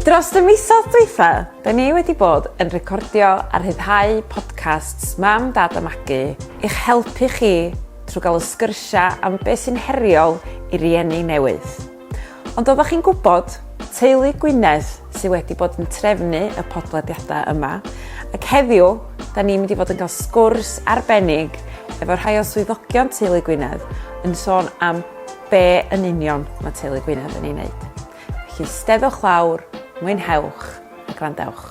Dros y misoedd dwytha, da ni wedi bod yn recordio a rhyddhau podcasts Mam, Dad a Magu i'ch helpu chi trwy gael y sgyrsiau am beth sy'n heriol i rieni newydd. Ond oeddech chi'n gwybod, teulu Gwynedd sydd wedi bod yn trefnu y podlediadau yma, ac heddiw, da ni'n mynd i fod yn cael sgwrs arbennig efo rhai o swyddogion teulu Gwynedd yn sôn am be yn union mae Teulu Gwynedd yn ei wneud. Felly steddwch lawr, mwynhewch a gwrandewch.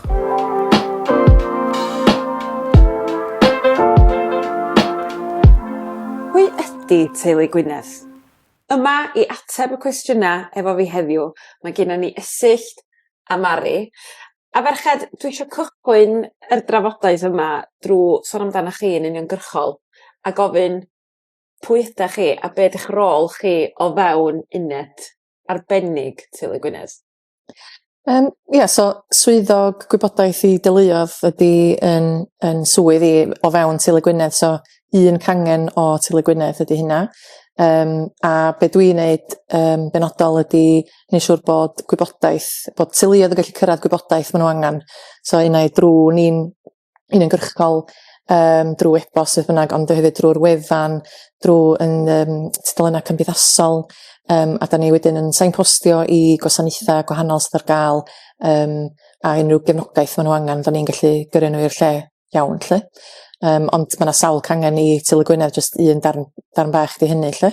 Pwy ydy Teulu Gwynedd? Yma i ateb y cwestiynau efo fi heddiw, mae gennym ni Esyllt a Mari. A ferched, dwi eisiau cychwyn yr drafodaeth yma drwy sôn amdanoch chi yn uniongyrchol a gofyn pwy ydach chi a be' 'di'ch rôl chi o fewn uned arbennig Teulu Gwynedd? Yym ia so swyddog gwybodaeth i deuluodd ydi yn yn swydd i o fewn Teulu Gwynedd so un cangen o Teulu Gwynedd ydi hynna yym a be' dwi neud yn benodol ydi neu' siŵr bod gwybodaeth bod teuluodd yn gallu cyrradd gwybodaeth ma' n'w angan so unai drw ni'n uniongyrchol um, drwy e-bost beth bynnag, ond hefyd drwy'r wefan, drwy yn um, tudalennau cymdeithasol, um, a da ni wedyn yn sainpostio i gwasanaethau gwahanol sydd ar gael um, a unrhyw gefnogaeth maen nhw angen, da ni'n gallu gyrru nhw i'r lle iawn, lle. Um, ond mae yna sawl cangen i Tylu Gwynedd, jyst un darn, darn bach di hynny, lle.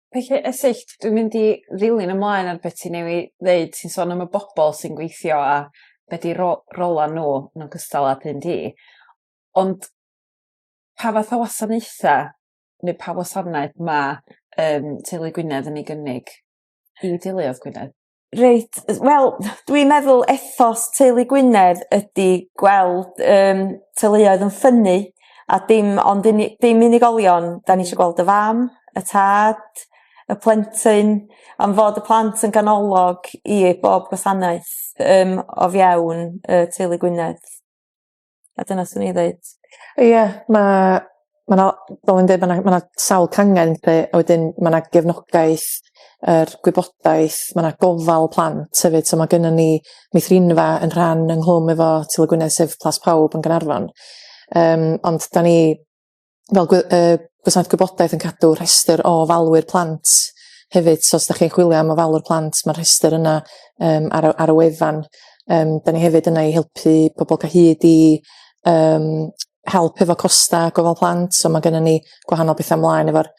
Felly Esyllt dwi'n mynd i ddilyn ymlaen ar be' ti newy' ddeud ti'n sôn am y bobol sy'n gweithio a be' 'di rô- rola n'w yn ogystal â thŷ di ond pa fath o wasanaetha' ne' pa wasanaeth ma' yym teulu Gwynedd yn ei gynnig i deuluodd Gwynedd? Reit yy wel dwi'n meddwl ethos teulu Gwynedd ydi gweld yym teuluoedd yn ffynnu a dim ond uni- dim unigolion 'dan ni isio gweld y fam y tad y plentyn am fod y plant yn ganolog i bob gwasanaeth yym o fewn yy teulu Gwynedd. A dyna swn i ddeud. Ia ma' ma' 'na fel o'n i'n deud ma' 'na ma' 'na sawl cangen 'lly a wedyn ma' 'na gefnogaeth yr gwybodaeth ma' 'na gofal plant hefyd so ma' gynnon ni meithrinfa yn rhan ynghlwm efo Tŷ y Gwynedd sef Plas Pawb yn Gaernarfon yym ond 'dan ni fel gwe- yy gwasanaeth gwybodaeth yn cadw rhestr o falwyr plant hefyd so os 'dach chi'n chwilio am ofalwr plant ma'r rhestr yna yym ar y ar y wefan yym 'dan ni hefyd yna i helpu pobol ca' hyd i yym help efo costa gofal plant so ma' gynnon ni gwahanol betha mlaen efo'r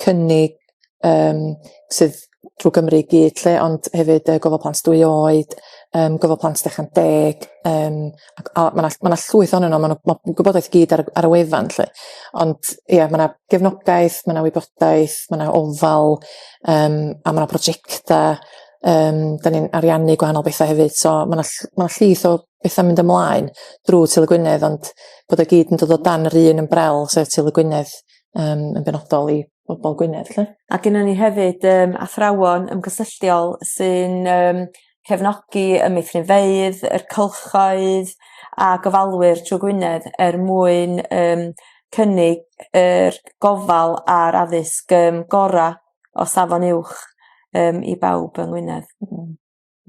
cynnig yym sydd drw Gymru i gyd lly ond hefyd yy gofal plant dwy oed yym gofal plant ucha deg yym ac a ma' 'na ma' 'na llwyth ohonyn n'w ma' n'w ma' gwybodaeth i gyd ar y ar y wefan lly ond ia ma' 'na gefnogaeth ma' 'na wybodaeth ma' 'na ofal yym a ma' 'na projecta yym 'dan ni'n ariannu gwahanol betha hefyd so ma' 'na ll- ma' 'na llwyth o betha'n mynd ymlaen drwy Sul y Gwynedd ond bod o gyd yn dod o dan yr un ymbrel sef Sul y Gwynedd yym yn benodol i bobol Gwynedd 'lly. A gynnon ni hefyd yym athrawon ymgysylltiol sy'n yym cefnogi y meithrinfeydd yr cylchoedd a gofalwyr trw Gwynedd er mwyn yym cynnig yr gofal a'r addysg yym gora' o safon uwch yym i bawb yng Ngwynedd. Hmm.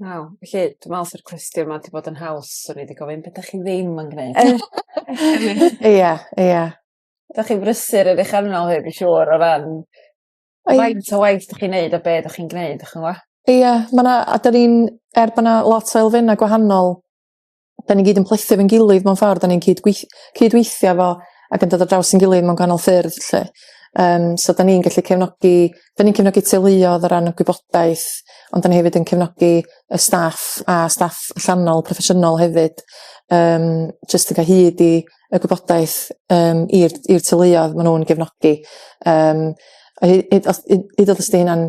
Waw. Felly dwi me'wl sa'r cwestiwn 'ma 'di bod yn haws o'n i 'di gofyn be' 'dach chi ddim yn gneud. Ia ia. 'Dach chi'n brysur yn eich arnom ni dwi siŵr o ran faint o waith 'dach chi'n neud a be' 'dach chi'n gneud 'dych ch'mo'? Ia ma' 'na a 'dan ni'n er bo' 'na lot o elfenna' gwahanol da ni gyd yn plethu fe'n gilydd mewn ffordd da ni'n cyd gweith- cydweithio fo ac yn dod ar draws ein gilydd mewn gwahanol ffyrdd 'lly yym so 'dan ni'n gallu cefnogi 'dan ni'n cefnogi teuluodd o ran y gwybodaeth ond 'dan ni hefyd yn cefnogi y staff a staff allanol proffesiynol hefyd yym jyst yn ca'l hyd i y gwybodaeth yym i'r i'r teuluodd ma' nw'n gefnogi yym a he- hyd os hyd hyd os 'di hynna'n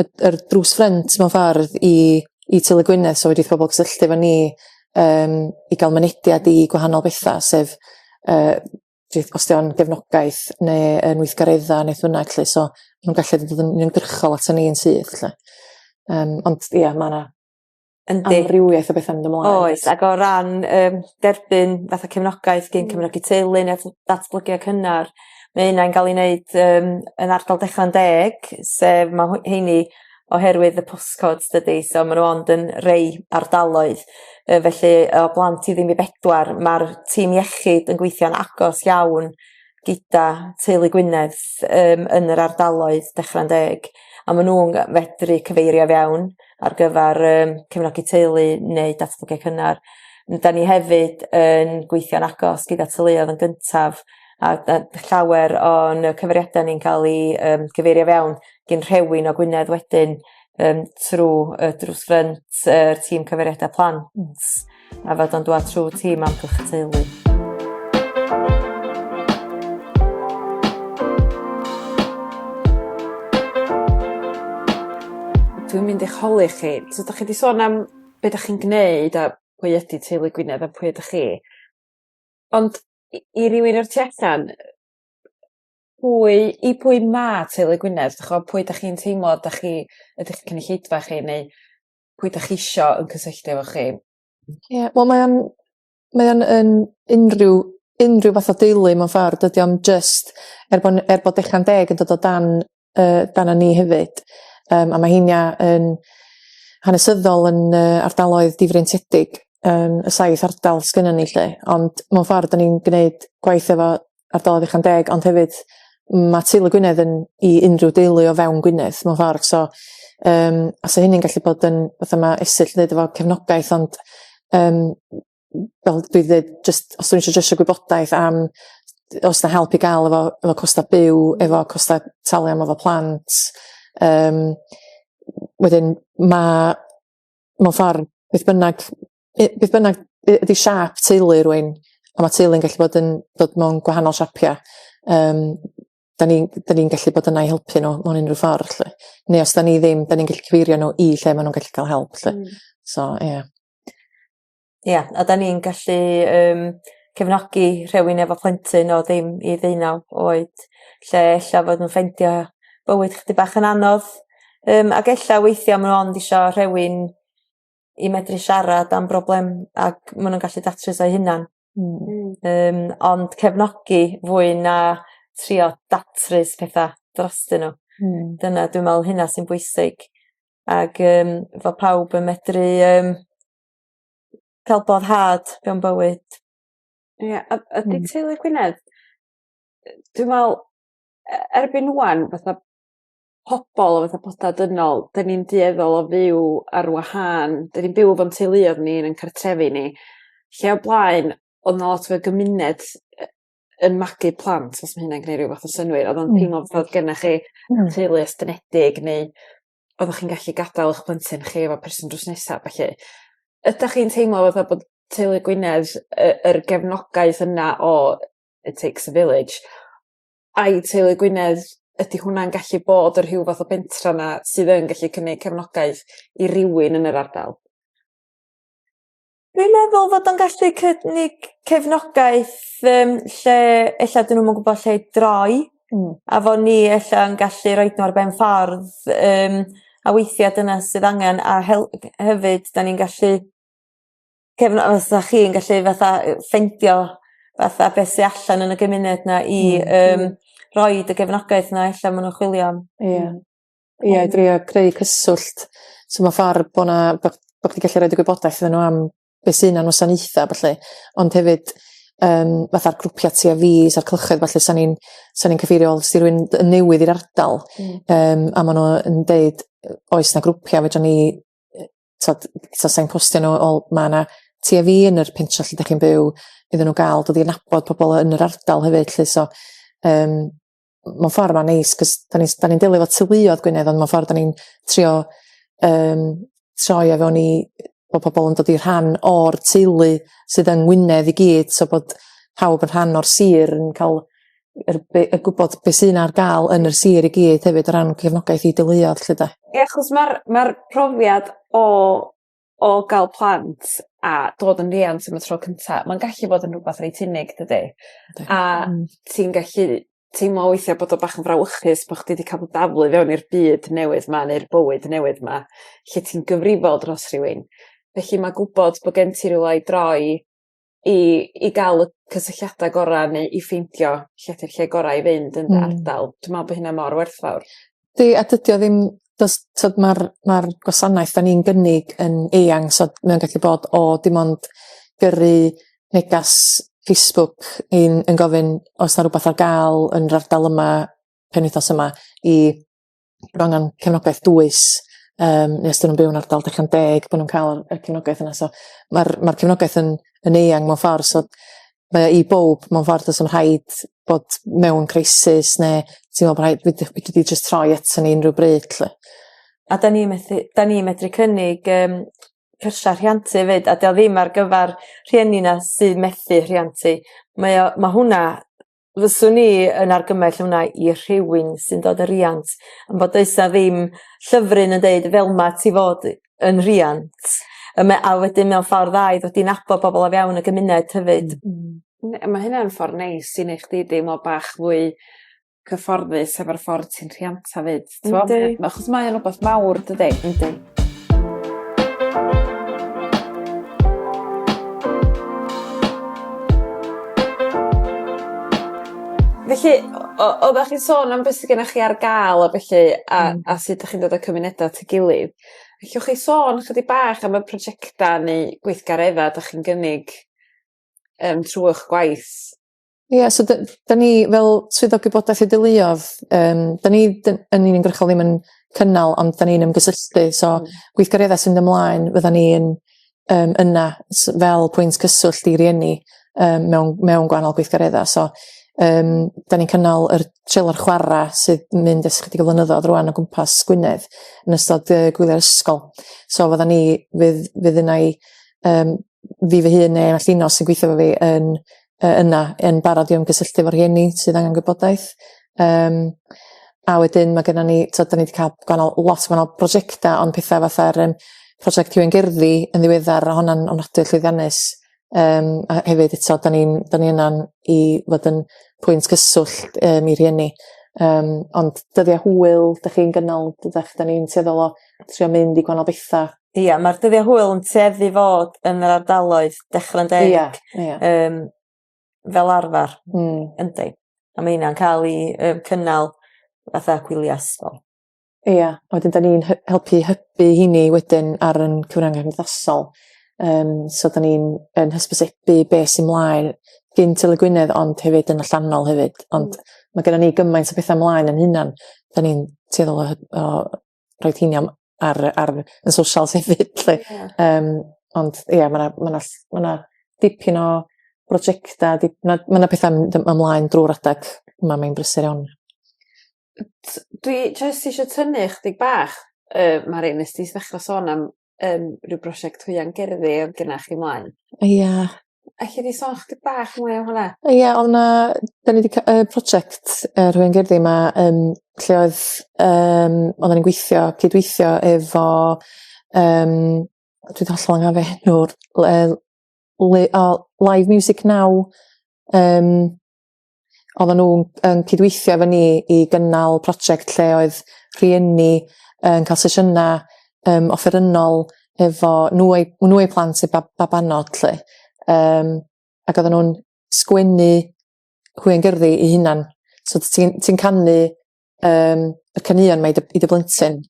y, yr drws ffrynt mewn ffordd i, i Tylu Gwynedd, so wedi pobl cysylltu efo ni um, i gael mynediad i gwahanol bethau, sef uh, os o'n gefnogaeth neu yn weithgareddau neu ffynag lle, so nhw'n gallu dod yn uniongyrchol at ni'n syth lle. Um, ond ia, mae yna Yndi. Amrywiaeth o betha mynd ymlaen. Oes ag o ran yym derbyn fatha cefnogaeth gin cefnogi teulu ne' tho- datblygu a cynnar ma' ynna'n ga'l 'i neud yym yn ardal Declan Deg sef ma' hw- 'heini oherwydd y post codes dydi so ma' n'w ond yn rei ardaloedd yy felly o blant i ddim i bedwar ma'r tîm iechyd yn gweithio'n agos iawn gyda teulu Gwynedd yym yn yr ardaloedd Dechrau'n Deg a ma' nw'n g- fedru cyfeirio fewn ar gyfar yym cefnogi teulu neu datblygu cynnar. N- 'dan ni hefyd yn gweithio'n agos gyda teuluodd yn gyntaf a d- yy llawer o'n yy cyfeiriada ni'n ca'l 'u yym cyfeirio fewn gin rhewin o Gwynedd wedyn yym trw y drws ffrynt yy tîm cyfeiriada plant. A fod o'n dwad trwy ti mam cwch teulu. Dwi'n mynd i'ch holi chi. So 'dach chi 'di sôn am be' 'dach chi'n gneud a pwy ydi teulu Gwynedd a pwy ydych chi. Ond i i rywun o'r tu allan yy pwy i pwy ma' teulu Gwynedd d'ch'o' pwy 'dach chi'n teimlo 'dach chi ydych cynulleidfa chi neu pwy 'dach chi isio yn cysylltu efo chi. Ie wel mae o'n mae o'n yn unrhyw unrhyw fath o deulu mewn ffor dydi o'm jyst er bo' n- er bo' Declan Deg yn dod o dan yy dan y ni hefyd yym a ma' heina yn hanesyddol yn yy ardaloedd difreintiedig yym y saith ardal sgynnon ni 'lly ond mewn ffor 'dyn ni'n gneud gwaith efo ardaloedd uchan deg, ond hefyd mae teulu Gwynedd yn i unrhyw deulu o fewn Gwynedd mewn ffordd. So, um, a so hynny'n gallu bod yn, fatha mae Esill yn dweud efo cefnogaeth, ond um, fel dwi ddweud, just, os dwi'n eisiau gwybodaeth am os na help i gael efo, efo costa byw, efo costa talu am efo plant. Um, wedyn mae, mewn ffordd, beth bynnag beth bynnag ydy siap teulu rwy'n, a mae teulu'n gallu bod yn dod mewn gwahanol siapiau, um, da ni'n ni gallu bod yna i helpu nhw mewn unrhyw ffordd. Lle. Neu os da ni ddim, da ni'n gallu cyfeirio nhw i lle maen nhw'n gallu cael help. Lle. Mm. So, ie. Yeah. Ie, yeah, a da ni'n gallu um, cefnogi rhywun efo plentyn o ddim i ddeunaw oed, lle ella fod nhw'n ffeindio bywyd chdi bach yn anodd, um, ac ella weithiau maen nhw ond eisiau rhywun i medru siarad am broblem ag ma' nw'n gallu datrys o 'u hunan. Hmm. Hmm. Yym ond cefnogi fwy na trio datrys petha drostyn n'w. Hmm. Dyna dwi me'wl hynna sy'n bwysig ag yym fo' pawb yn medru yym ca'l boddhad mewn bywyd. Ie a a 'di teulu Gwynedd yy dwi me'wl e- erbyn ŵan fatha pobol efo fatha petha dynol 'dyn ni'n dueddol o fyw ar wahân 'dyn ni'n byw efo'n teuluodd ni yn ein cartrefi ni lle o blaen o'dd 'na lot o gymuned yy yn magu plant os ma' hynna'n gneu' ryw fath o synnwyr o'dd o'n teimlo fel bo' gennych chi... Hmm. ...teulu estynedig neu oddach chi'n gallu gadal 'ych plentyn chi efo person drws nesa a ballu. Ydach chi'n teimlo fatha bod teulu Gwynedd yy yr gefnogaeth yna o it takes a village ai teulu Gwynedd ydi hwnna'n gallu bod y rhyw fath o bentra 'na sydd yn gallu cynnig cefnogaeth i rywun yn yr ardal? Dwi'n meddwl fod o'n gallu cynnig cefnogaeth yym lle ella 'dyn nw'm yn gwbod lle i droi. Hmm. A fo ni ella yn gallu roid n'w ar ben ffordd yym a weithia' dyna sydd angen a hel- hefyd 'dan ni'n gallu cefn os 'sa chi'n gallu fatha yy ffeindio fatha be' sy allan yn y gymuned 'na i yym rhoid y gefnogaeth 'na ella ma' nw'n chwilio am. Ia. Ia i drio creu cyswllt so ma' ffor bo' 'na bo' bo' chdi gallu roid y gwybodaeth iddyn n'w am be' sy 'na am wasanaetha' a ballu ond hefyd yym fatha'r grwpia' ti a fi sa'r cylchoedd ballu sa ni'n sa ni'n cyfeirio os 'di rywun d- yn newydd i'r ardal... Hmm. ...yym a ma' n'w yn deud yy oes 'na grwpia' fedran ni yy t'od so sai'n postio n'w o ma' 'na tua fi yn yr pentre lle 'dach chi'n byw iddyn n'w ga'l dod i nabod pobol yn yr ardal hefyd lly so yym mewn ffor ma'n neis 'c'os 'dan ni s- 'dan ni'n delio efo teuluodd Gwynedd on' mewn ffor 'dan ni'n trio yym troi o fewn i bo' pobol yn dod i rhan o'r teulu sydd yng Ngwynedd i gyd so bod pawb yn rhan o'r sir yn ca'l yr be- y gwbod be' sy'n ar ga'l yn y sir i gyd hefyd o ran cefnogaeth i deuluodd 'lly 'de? Ia achos ma'r ma'r profiad o o ga'l plant a dod yn riant am y tro cynta ma'n gallu bod yn rwbath reit unig dydi? Yndi. A... Hmm. ...ti'n gallu teimlo weithia' bod o bach yn frawychus bo' chdi 'di ca'l dy daflu i fewn i'r byd newydd 'ma neu'r bywyd newydd 'ma lle ti'n gyfrifol dros rhywun felly ma' gwbod bo' gen ti rywle i droi i i ga'l y cysylltiada gora' neu i ffeindio lle 'di'r lle gorau i fynd yn dy ardal dwi me'wl bo' hynna mor werthfawr. 'Di a dydi o ddim do's t'od ma'r ma'r gwasanaeth 'dan ni'n gynnig yn eang so mae o'n gallu bod o dim ond gyrru negas Facebook i'n yn gofyn o's 'na rwbath ar ga'l yn yr ardal yma penwythnos yma i bo' angan cefnogaeth dwys yym ne' os 'dyn nw'n byw yn ardal digon deg bo' nw'n ca'l y y cefnogaeth yna so ma'r ma'r cefnogaeth yn yn eang mewn ffor so mae o i bowb mewn ffor do's na'm rhaid bod mewn crisis ne' teimlo bo' rhaid fedru fedri di jyst troi ato ni unryw bryd 'lly. A 'dan ni methu 'dan ni medru cynnig yym cyrsia rhiant efyd a 'di o ddim ar gyfar rhieni 'na sy'n methu rhiant hi mae o ma' hwnna fyswn i yn argymell hwnna i rhywun sy'n dod y' riant yn bod does 'a ddim llyfryn yn deud fel 'ma ti fod yn rhiant yy me- a wedyn mewn ffordd dda i ddod i nabod pobol o fewn y gymuned hefyd. Hmm hmm. Ne- ma' hynna'n ffor neis i neu' chdi deimlo bach fwy cyfforddus hefo'r ffor ti'n rhianta 'fyd. Yndi. Achos mae o'n rhywbeth mawr, dydy? Yndi. Felly, o- oddach chi'n sôn am beth sy gynnoch chi ar ga'l a bellu a... Hmm. ...a sut 'dych chi'n dod â cymuneda at 'i gilydd. Ellwch chi sôn chydig bach am y projecta neu gweithgaredda 'dach chi'n gynnig yym trw 'ych gwaith? Ie so dy- da ni fel swyddog gwybodaeth a deuluodd yym da ni dy- yn uniongyrchol ddim yn cynnal ond 'dan ni'n ymgysylltu so gweithgaredda sy'n myn' ymlaen fyddan ni yn yym yna s- fel pwynt cyswllt i rieni yym mewn mewn gwahanol gweithgaredda so yym 'dan ni'n cynnal yr trailer chwara sydd yn mynd ers chydig o flynyddodd rŵan o gwmpas Gwynedd yn ystod yy gwylie ysgol so fyddan ni fydd fydd unai yym fi fy hun neu all un o sy'n gweithio efo fi yn yy yna yn barod i ymgysylltu efo rhieni sydd angen gwybodaeth yym a wedyn ma' gynnon ni t'od 'dan ni 'di ca'l gwahanol lot gwahanol prosiecta on' petha fatha'r yym prosiect rhywun gerddi yn ddiweddar o' honna'n ofnadwy o llwyddiannus yym a hefyd eto 'dan ni'n 'dan ni yna'n i fod yn pwynt cyswllt yym i rhieni yym ond dyddia hwyl 'dach chi'n gynnal 'dach 'dan ni'n tueddol o trio mynd i gwanol betha. Ia ma'r dyddia hwyl yn tueddu fod yn yr ardaloedd dechra 'n deu. Ia ia. Yym fel arfar. Hmm. Yndi. A ma' hynna'n ca'l 'i yy cynnal fatha gwylia ysgol. Ia a wedyn 'dan ni'n hy- helpu hybu 'heiny wedyn ar 'yn cyfrynga cymdeithasol yym so 'dan ni'n yn hysbysebu be' sy mlaen gin Tyddygw Gwynedd ond hefyd yn allanol hefyd ond ma' gynnon ni gymaint o petha mlaen 'yn hunan 'dan ni'n tueddol o hy- o rhoid hini am ar y ar y socials hefyd 'lly. Ie. Yym ond ia ma' 'na ma' 'na ll- ma' 'na dipyn o brojecta di- ma' ma' 'na petha'n mynd yym ymlaen drw'r adag yma mae'n brysur iawn. Yy t- dwi jyst isio tynnu ychydig bach yy Mari nes ti ddechra sôn am yym rhyw brosiect hwya'n gerddi odd genna chi mlaen. Ia. Elli di sôn chydig bach mwy am hwnna? O ia o' 'na 'dan ni 'di ca- yy project yy rhwya'n gerddi 'ma yym lle oedd yym oddan ni'n gweithio cydweithio efo yym dwi 'di hollol anghofio enw'r le- le- o live music now yym oedden nhw'n yn cydweithio efo ni i gynnal prosiect lle oedd rhieni yn cael sesiynau um, offerynnol efo nhw eu, nhw eu plant eu bab, babanod lle. Um, ac oedden nhw'n sgwennu hwy'n gyrru i hunan. So ti'n ti canu um, y caneuon mae i dy blentyn,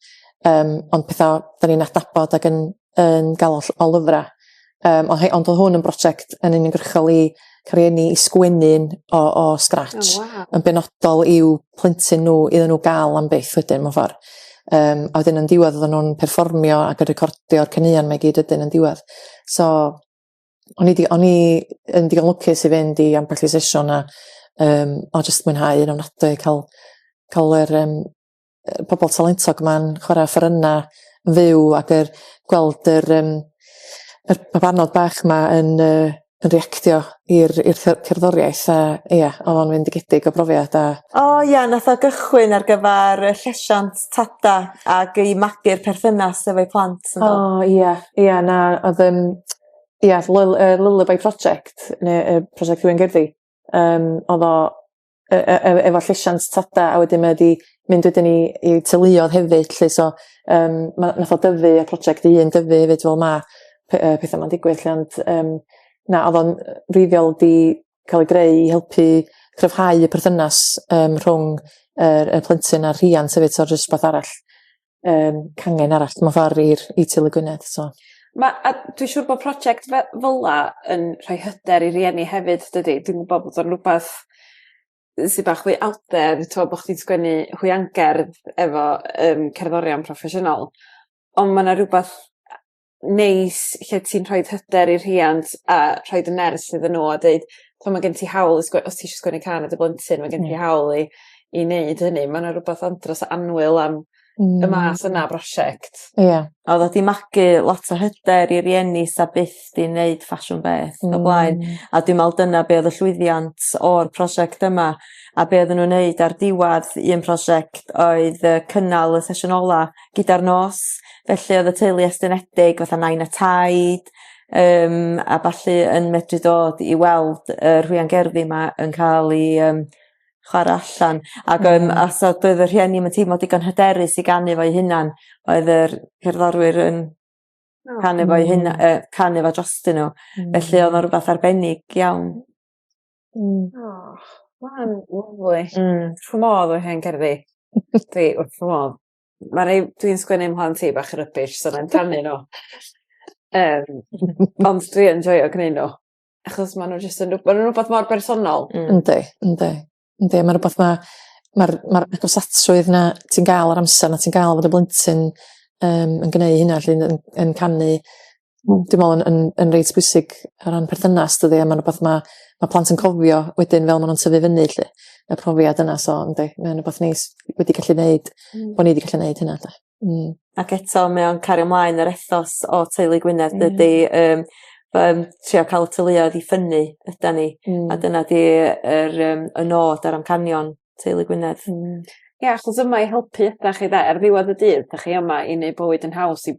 um, ond pethau da ni'n adnabod ac yn, yn gael o lyfrau. Um, ond, ond oedd hwn yn brosiect yn uniongyrchol i cariennu i sgwennu'n o, o scratch, oh, wow. yn benodol i'w plentyn nhw, iddyn nhw gael am beth wedyn, mae'n ffordd. Um, a wedyn yn diwedd oedden nhw'n perfformio ac yn recordio'r caneuon mae gyd ydyn yn diwedd. So, o'n i 'di o'n i yn digon lwcus i fynd i ambell i sesiwn a yym o jyst mwynhau yn ofnadwy ca'l ca'l yr yym yy pobol talentog 'ma'n chwara offerynna yn fyw ag yr gweld yr yym yr babanod bach 'ma yn yy yn reactio i'r i'r ce- cerddoriaeth a ia o'dd o'n fendigedig o brofiad a... O ia nath o gychwyn ar gyfar y llesiant tata ag i magu'r perthynas efo'u plant on'd do? O ia ia na odd yn ia lul- yy lulaby project ne' yy project rywun gerddi yym odd o e- e- e- efo llesiant tada a wedyn mae o 'di mynd wedyn i i teuluodd hefyd 'lly so yym ma' nath o dyfu y project 'i hun dyfu 'fyd fel ma' pe- yy petha 'ma'n digwydd 'lly ond yym na odd o'n yy feifiol 'di cael ei greu i helpu cryfhau y perthynas um, rhwng yr, y plentyn a'r rhian sef eto jyst rhywbeth arall um, cangen arall mewn ffordd i'r i Til y Gwynedd so. Ma, a dwi'n siŵr bod prosiect fe, fel la yn rhoi hyder i rieni hefyd dydy dwi'n gwybod bod o'n rhywbeth sy'n bach fwy out there t'mo' bo' chdi'n sgwennu hwiangerdd efo um, cerddorion proffesiynol ond mae yna rhywbeth neis lle ti'n rhoid hyder i'r rhiant a rhoid y nerth iddyn n'w a deud t'mo' ma' gen ti hawl i sgwe- os ti isio sgwennu cân i dy blentyn ma' gen ti hawl i i neud hynny ma' 'na rwbath andros o annwyl am... Hmm. ...y math yna o brosiect. Ia. A oddat ti'n magu lot o hyder i rieni sa byth 'di neud ffasiwn beth o'r blaen. Hmm. A dwi me'wl dyna be' o'dd y llwyddiant o'r prosiect yma a be' oddan nw'n neud ar diwadd un prosiect oedd yy cynnal y sesiwn ola gyda'r nos felly odd y teulu estynedig fatha nain a taid yym a ballu yn medru dod i weld y rhwyan gerddi 'ma yn ca'l 'u yym chwara allan ag yym a so doedd y rhieni 'im yn teimlo digon hyderus i ganu fo'u hunan oedd yr cerddorwyr yn canu fo'u huna- yy canu fo drostyn n'w. Hmm. Felly o'dd o'n rwbath arbennig iawn. Hmm. O ma' wnna yn lyfli. Hmm. Dwi wrth fy modd efo hen gerddi. Dwi wrth fy modd. ma' rei... Dwi'n sgwennu am ho'n tŷ bach yn rybish so 'nai'm canu n'w. Yym ond dwi yn joio gneud n'w achos ma' n'w jyst yn rw- ma' nw'n rwbath mor bersonol. Hmm. Yndi yndi yndi ma' rwbath ma' ma'r ma'r agosasrwydd 'na ti'n ga'l yr amser 'na ti'n ga'l fod y blentyn yym yn gneu' hynna 'lly yn yn canu Hmm dwi me'wl yn yn yn reit bwysig o ran perthynas dydi a ma'n rwbath ma' ma' plant yn cofio wedyn fel ma' nw'n tyfu fyny 'lly y profiad yna so yndi mae o'n rwbath neis wedi gallu neud... Hmm. ...bo' ni 'di gallu neud hynna 'de? Hmm. Ac eto mae o'n cario mlaen yr ethos o teulu Gwynedd dydi yym ma' yn trio ca'l y teuluoedd i ffynnu ydan ni. Hmm. A dyna 'di yr yym y nod a'r amcanion teulu Gwynedd. Hmm. Ia achos yma i helpu ydach chi 'de? Ar ddiwadd y dydd 'dach chi yma i neu' bywyd yn haws i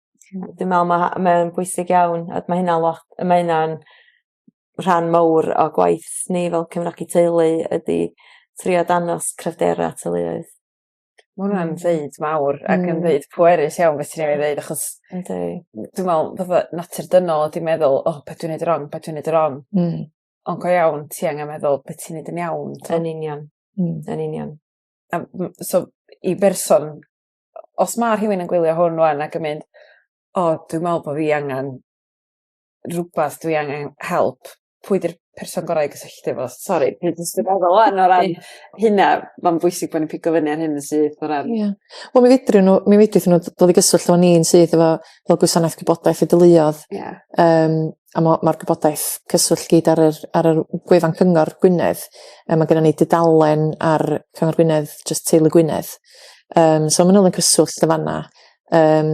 Dwi me'wl ma' mae o'n bwysig iawn a ma' hynna lot a ma' hynna'n rhan mowr o gwaith ni fel cefnogi teulu ydi trio dangos cryfdera teuluoedd. Ma' wnna'n deud mawr ac yn ddeud pwerus iawn be' ti newydd ddeud achos... Yndi. ...dwi me'wl fatha natur dynol ydi meddwl o be' dwi neud yn rong be' dwi neud yn rong. Hmm. On' go iawn ti angen meddwl be' ti'n neud yn iawn t'o'? Yn union. Hmm. Yn union. A m- so i berson os ma' rhywun yn gwylio hwn ŵan ac yn mynd o dwi me'wl bo' fi angan rwbath dwi angen help pwy 'di'r person gorau i gysylltu efo? Sori dwi jyst yn meddwl ŵan o ran hynna ma'n bwysig bo' ni'n pigo fyny ar hyn syth o ran... Ia. Wel mi fedrwn n'w mi fedrith n'w dod i gyswllt efo ni'n syth efo fel gwasanaeth gwybodaeth a deuluodd. Ia. Yym. a mo- ma'r gwybodaeth cyswllt gyd ar yr ar yr gwefan cyngor Gwynedd yy ma' gynnon ni dudalen ar cyngor Gwynedd jyst teulu Gwynedd yym so ma' n'w yn cyswllt yn fanna yym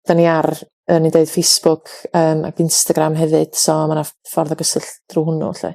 'dan ni ar yy o'n i'n deud Facebook yym ag Instagram hefyd so ma' 'na ffordd o gyswllt drw hwnnw lly.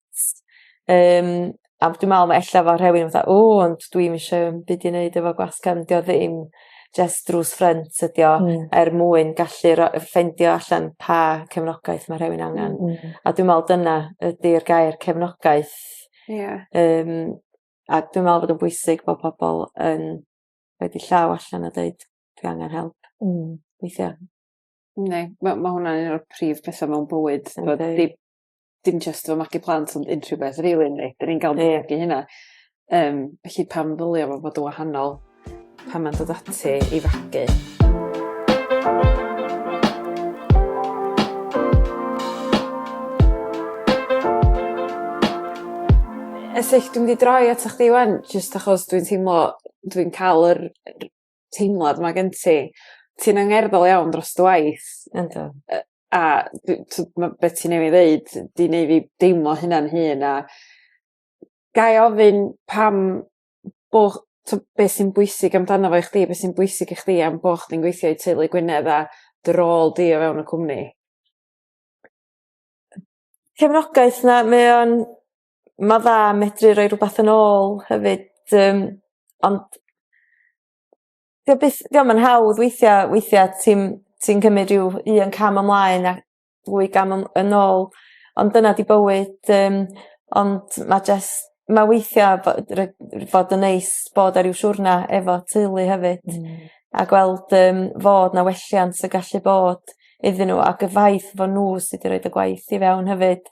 yym a dwi me'wl ma' ella fel rhewyn fatha o ond dwi'm isio 'im byd i neud efo gwaith cefn 'di o ddim jyst drws ffrynt ydi o... Hmm. ...er mwyn gallu ro- yy ffeindio allan pa cefnogaeth ma' rhewun angan. Hmm hmm. A dwi me'wl dyna ydi'r gair cefnogaeth. Ia. Yym a dwi me'wl bod o'n bwysig bo' pobol yn roid 'u llaw allan a deud dwi angen help. Hmm. Weithia'. Yndi ma' ma' hwnna'n un o'r prif petha mewn bywyd. Yndi. T'mod dim dim jyst efo magu plant ond unrhyw beth rili yndi? 'Dyn ni'n ga'l... Ie. ...magu hynna. Yym felly pam ddylia fo fod y' wahanol pan ma'n dod ati i fagu? Elly dwi mynd i droi atoch chdi 'wan jyst achos dwi'n teimlo dwi'n ca'l yr yy teimlad 'ma gen ti ti'n angerddol iawn dros dy waith. Yndw. Yy a dwi t'o' ma' be' ti newydd ddeud 'di neu' fi deimlo hynna'n hŷn a ga' i ofyn pam bo' ch- t'o' be' sy'n bwysig amdano fo i chdi be' sy'n bwysig i chdi am bo' chdi'n gweithio i teulu Gwynedd a dy rôl di o fewn y cwmni? Cefnogaeth 'na mae o'n ma' dda medru roi rwbath yn ôl hefyd yym ond 'di o byth 'di o'm yn hawdd weithia' weithia' ti'n ti'n cymyd ryw un cam ymlaen a ddwy gam yn yn ôl ond dyna 'di bywyd yym ond ma' jyst ma' weithia' bo- ry- r- fod yn neis bod ar ryw siwrna efo teulu hefyd. Hmm. A gweld yym fod 'na welliant yn gallu bod iddyn n'w ac y ffaith fo' n'w sy 'di roid y gwaith i fewn hefyd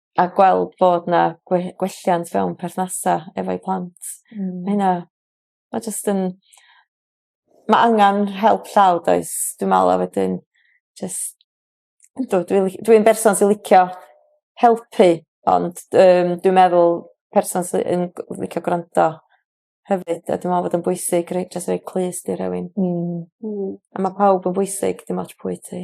a gweld bod 'na gwe- gwelliant fewn perthnasa efo'u plant. Hmm. Ma' hynna ma' jyst yn ma' angan help llaw 'does dwi me'wl a wedyn jyst yndw dwi li- dwi'n berson sy licio helpu ond yym dwi'n meddwl person sy yn g- licio gwrando hefyd a dwi me'wl bod o'n bwysig rei- jys roi clust i rhywun. Hmm. Hmm. A ma' pawb yn bwysig dim ots pwy ti.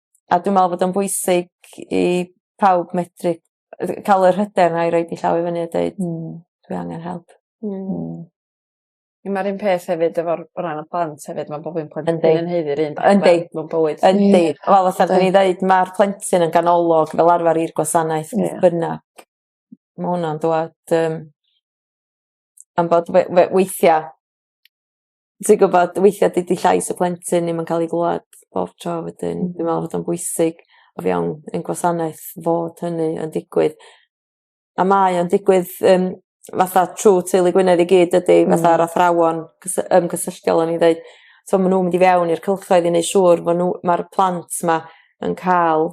A dwi me'wl fod o'n bwysig i pawb medru yy ca'l yr hyder 'na i roid 'u llaw i fyny a deud hmm dwi angen help. Hmm. Hmm. On' ma'r un peth hefyd efo'r o ran y plant hefyd ma' bob un plentyn... Yndi. ...yn haeddu'r un fath... Yndi. ...mewn bywyd. Yndi. Wel fatha 'dyn ni ddeud ma'r plentyn yn ganolog fel arfar i'r gwasanaeth... Ia. ...beth bynnag. Ma' wnna'n dwad yym am bod we- we- weithia' ti gwbod weithia' dydi llais y plentyn ddim yn ca'l 'i glwad bob tro wedyn dwi me'wl fod o'n bwysig o fewn ein gwasanaeth fod hynny yn digwydd a mae o'n digwydd yym fatha trw teulu Gwynedd i gyd dydi fatha'r athrawon cys- yym cysylltiol o'n i'n ddeud t'o' ma' nw'n mynd i fewn i'r cylchoedd i neu' siŵr fo' n'w ma'r plant 'ma yn ca'l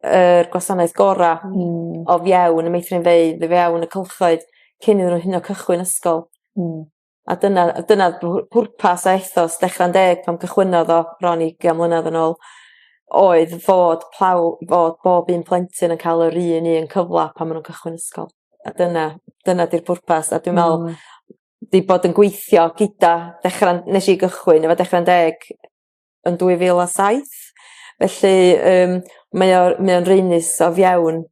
yr gwasanaeth gora'... Hmm. ...o fewn y meithrinfeydd i fewn y cylchoedd cyn iddyn n'w hyd yn o'd cychwyn ysgol. Hmm. A dyna a dyna pw- pwrpas a ethos Dechra'n Deg pan cychwynnodd o bron i ugian mlynadd yn ôl oedd fod plow- fod bob un plentyn yn ca'l yr un un cyfla pan ma' nw'n cychwyn ysgol. A dyna dyna 'di'r pwrpas a dwi me'wl... Hmm. ...'di bod yn gweithio gyda Dechra... Nesh i gychwyn efo Dechra'n Deg yn dwy fil a saith felly yym mae o mae o'n raenus o fewn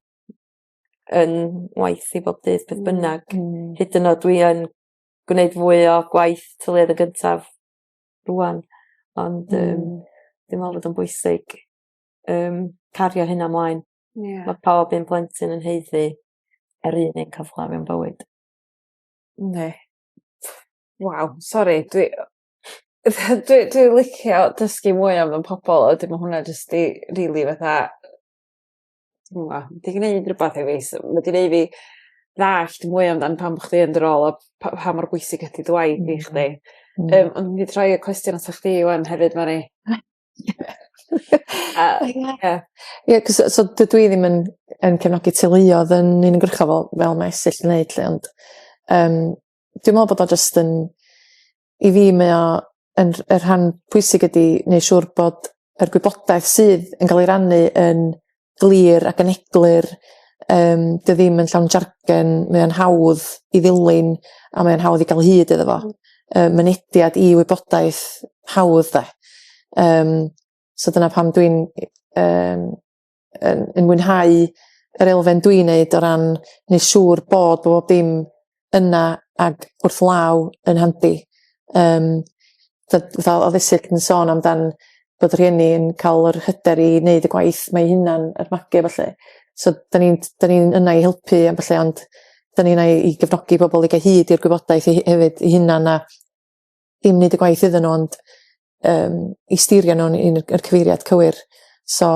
'yn waith i bob dydd beth bynnag. Hmm. Hmm. Hyd yn o'd dwi yn gwneud fwy o gwaith tyluoedd yn gyntaf rŵan ond yym dwi me'wl fod o'n bwysig yym cario hynna 'mlaen. Ia. Ma' pob un plentyn yn haeddu yr un un cyfla mewn bywyd. Yndi. Waw sori dwi yy dwi dwi licio dysgu mwy am y pobol a wedyn ma' hwnna jyst 'di rili fatha Dwi'm yn gwbo. 'Di gneud rwbath i fi s- ma' 'di neu' fi ddallt mwy amdan pam bo' chdi yn dy rôl a pa- pa mor bwysig ydi dy waith di chdi. Yym o'n i myn' i troi y cwestiwn atat chdi ŵan hefyd Mari. A ie. Ie 'c'os yy so dydw i ddim yn yn cefnogi teuluodd yn uniongyrchol fel fel mae Esyll yn neud 'lly ond yym dwi me'wl bod o jyst yn i fi mae o yn rh- y rhan pwysig ydi neu' siŵr bod yr gwybodaeth sydd yn ga'l ei rannu yn glir ac yn eglur yym dio ddim yn llawn jargon mae o'n hawdd i ddilyn a mae'n hawdd i ga'l hyd iddo fo yy mynediad i wybodaeth hawdd 'de yym so dyna pam dwi'n yym yn, yn mwynhau yr elfen dwi'n neud o ran neu siŵr bod bob dim yna ag wrth law yn handi. Um, fatha o ddisig yn sôn amdan bod rhieni yn cael yr hyder i wneud y gwaith mae hunan yr magu falle. So, da ni'n ni yna i helpu am falle ond da ni'n yna i gefnogi pobl i gael hyd i'r gwybodaeth i, hefyd i hunan a ddim neud y gwaith iddyn nhw ond yym i stirio nhw'n un y yr cyfeiriad cywir so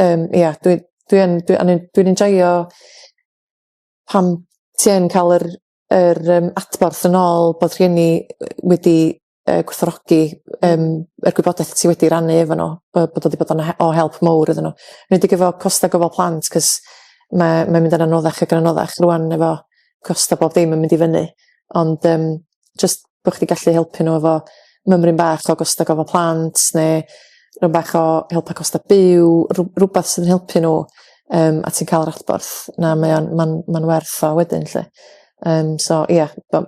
yym ia dwi dwi yn dwi o'n i'n dwi'n enjoio pan ti yn ca'l yr yr yym adborth yn ôl bod rhieni yy wedi yy gwerthfawrogi yym yr gwybodaeth ti wedi rannu efo n'w bo' bod o 'di bod yn he- o help mowr iddyn n'w enedig efo costa gofal plant 'c'os ma' mae'n mynd yn anoddach ag yn anoddach rŵan efo costa bob dim yn mynd i fyny ond yym jyst bo' chdi gallu helpu n'w efo mymryn bach o gosta gofal plant ne' run bach o helpu costa byw rw- rwbath sy'n helpu n'w yym a ti'n ca'l yr adborth 'na mae o'n ma'n ma'n werth o wedyn 'lly yym so ia bo-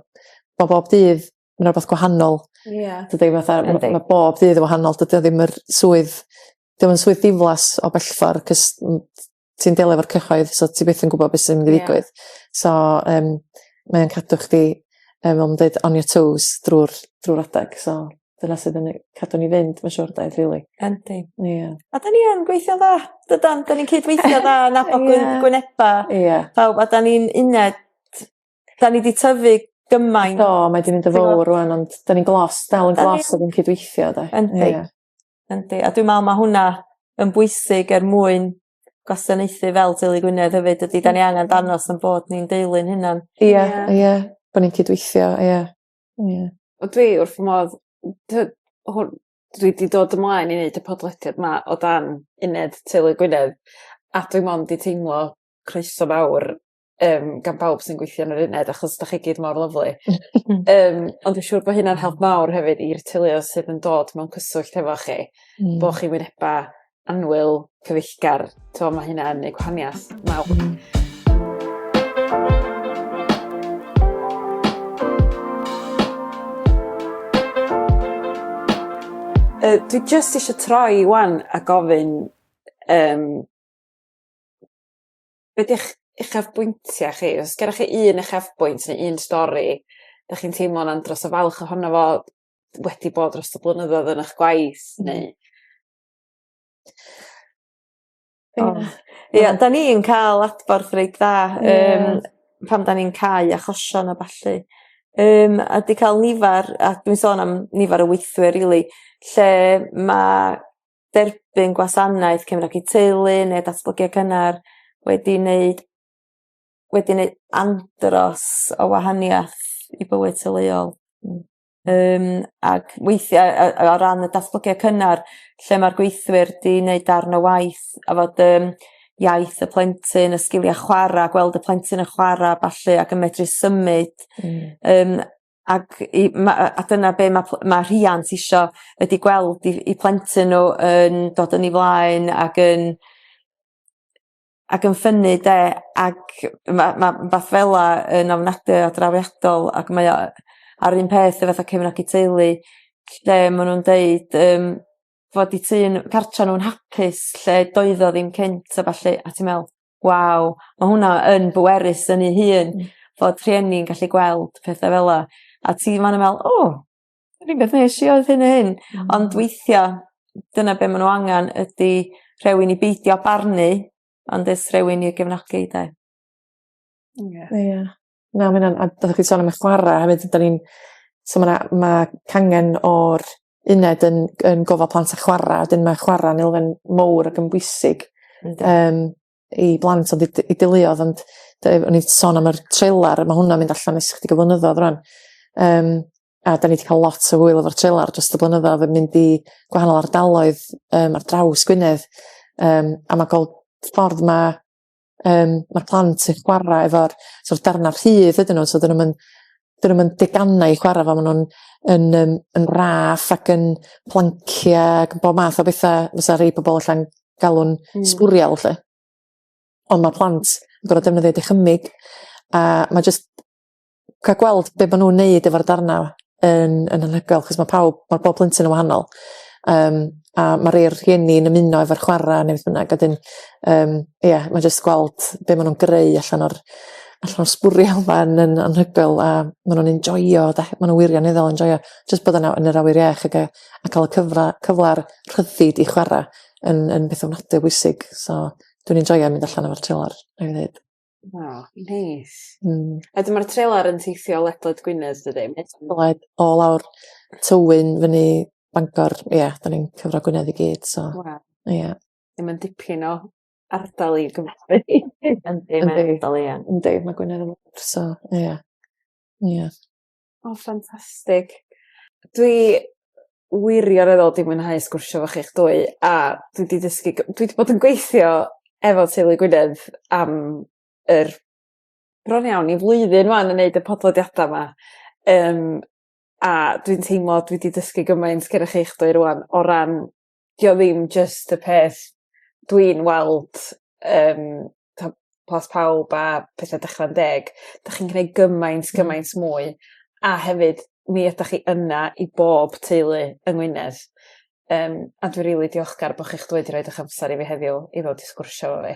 ma' bob dydd yn rwbath gwahanol. Ia. Dydi fatha ma' ma' bob dydd yn wahanol dydi o ddim yr swydd 'di o'm yn swydd diflas o bellffor 'c'os m- ti'n delio efo'r cyhoedd so ti byth yn gwbod be' sy'n mynd i ddigwydd. Ie. So yym mae o'n cadw chdi yym fel ma' nw'n deud on your toes drw'r drw'r adag so dyna sydd yn yy cadw ni fynd ma' siŵr 'de rili. Yndi. Ia. A 'dan ni yn gweithio'n dda dydan 'dan ni'n cydweithio dda nabod gwyn gwyneba. Ia. Pawb a 'dan ni'n uned 'dan ni 'di tyfu gymaint. Do mae 'di mynd yn fowr rŵan ond 'dan ni'n glos dal yn glos a ni'n cydweithio 'de. Yndi. Ia. Yndi a dwi me'wl ma' hwnna yn bwysig er mwyn gwasanaethu fel teulu Gwynedd hefyd dydi 'dan ni angan dangos 'yn bod ni'n deulu'n hunan. Ia ia bo' ni'n cydweithio ia. Ia. Wel dwi wrth fy modd n- t'od hwn dwi 'di dod ymlaen i neud y podlediad 'ma o dan uned teulu Gwynedd a dwi mond 'di teimlo croeso fawr yym gan bawb sy'n gweithio yn yr uned achos 'dach chi gyd mor lyfli. Yym ond dwi siŵr bo' hynna'n help mawr hefyd i'r teuluodd sydd yn dod mewn cyswllt hefo chi. Hmm. Bo' chi wyneba annwyl, cyfeillgar t'mo' ma' hynna yn neu' gwahaniath mawr. Hmm. Yy dwi jyst isio troi 'wan a gofyn yym be' 'di'ch uchafbwyntia chi os gennoch chi un uchafbwynt ne' un stori 'dach chi'n teimlo'n andros o falch ohono fo wedi bod dros y blynyddodd yn 'ych gwaith neu... O. Ia 'dan ni yn ca'l adborth reit dda yym pan 'dan ni'n cau achosion a ballu yym a 'di ca'l nifar a dwi'n sôn am nifar o weithwyr rili lle ma' derbyn gwasanaeth cefnogi i teulu ne' datblygiad cynnar wedi neud wedi neu' andros o wahaniath i bywyd teuluol. Hmm. Yym ag weithie yy yy o ran y datblygiad cynnar lle ma'r gweithwyr 'di neud darn o waith a fod yym iaith y plentyn y sgilia chwara gweld y plentyn yn chwara a ballu ac yn medru symud... Hmm. ...yym Ac i ma' yy a dyna be' ma' pl- ma' rhiant isio ydi gweld 'u 'u plentyn n'w yn dod yn 'u flaen ag yn ag yn ffynnu 'de ac ma' ma' wbath fel 'a yn ofnadwy o drawiadol ac mae o a'r un peth efo fatha cefnogi teulu lle ma' nw'n deud yym fod 'u tŷ n- cartra nw'n hapus lle doedd o ddim cynt a ballu a ti me'wl Waw ma' hwnna yn bwerus yn ei hun. Hmm. Fod rhieni'n gallu gweld petha fel 'a a ti man yn me'wl o yr un peth nesh i oedd hyn a hyn. Hmm. Ond weithia' dyna be' ma' n'w angan ydi rhewun i beidio barnu ond jys rhewun i gefnogi 'de? Ia. Ia. Na ma' wnna'n a fel o' chi sôn am y chwara hefyd ydan ni'n so ma' 'na ma' cangen o'r uned yn yn gofal plant a chwara a 'dyn ma' chwara'n elfen mowr ag yn bwysig yym i blant ond i d- i deuluodd ond de- o'n i sôn am yr trelar ma' hwnna'n mynd allan e's chydig o flynyddodd rŵan yym a 'dan ni 'di ca'l lot o hwyl efo'r trelar drost y blynyddodd yn mynd i gwahanol ardaloedd yym ar draws Gwynedd yym a ma' gweld ffordd ma' um, mae'r plant yn chwarae efo'r sort of darnau rhydd ydyn nhw, so dyn nhw'n dyn nhw'n deganau i chwarae fo, maen nhw'n yn, um, yn raff ac yn plancia ac yn bob math o bethau fysa rhai pobl allan galw'n mm. sbwriel lle. Ond mae plant yn gorfod defnyddio dychymyg a mae jyst ca'l gweld be' ma' nw'n neud efo'r darna yn yn anhygoel achos ma' pawb ma' bob plentyn yn wahanol yym a ma' rei o'r rhieni'n ymuno efo'r chwara ne' beth bynnag a 'dyn yym ia ma' jyst gweld be' ma' nw'n greu allan o'r allan o'r sbwriel 'ma yn yn anhygoel a ma' nw'n enjoio 'de ma' n'w wirioneddol enjoio jyst bod yna yn yr awyr iach ag yy a ca'l y cyfla cyfla'r rhyddid i chwara yn yn beth ofnadwy o bwysig so dwi'n enjoio mynd allan efo'r treilar rhaid fi ddeud. O neis. Hmm. A dyma'r trailer yn teithio ledled Gwynedd dydi? Led o lawr Tywyn fyny Bangor ie 'dan ni'n cyfro Gwynedd i gyd so. Waw. Ie. Ie ma'n dipyn o ardal i gyfrfu. Yndi mae ardal ie. Yndi ma' Gwynedd yn fowr so ie. Ie. O ffantastig. Dwi wirioneddol 'di mwynhau sgwrsio efo chi'ch dwy a dwi 'di dysgu g- dwi 'di bod yn gweithio efo teulu Gwynedd am yr bron iawn i flwyddyn 'wan yn neud y podlediada 'ma yym a dwi'n teimlo dwi 'di dysgu gymaint gennych chi'ch dwy rŵan o ran 'di o ddim jyst y peth dwi'n weld yym t'o' plas pawb a petha Declan Deg 'dach chi'n gneud gymaint gymaint mwy a hefyd mi ydach chi yna i bob teulu yng Ngwynedd yym a dwi rili diolchgar bo' chi'ch dod i roid 'ych amser i fi heddiw i ddod i sgwrsio efo fi.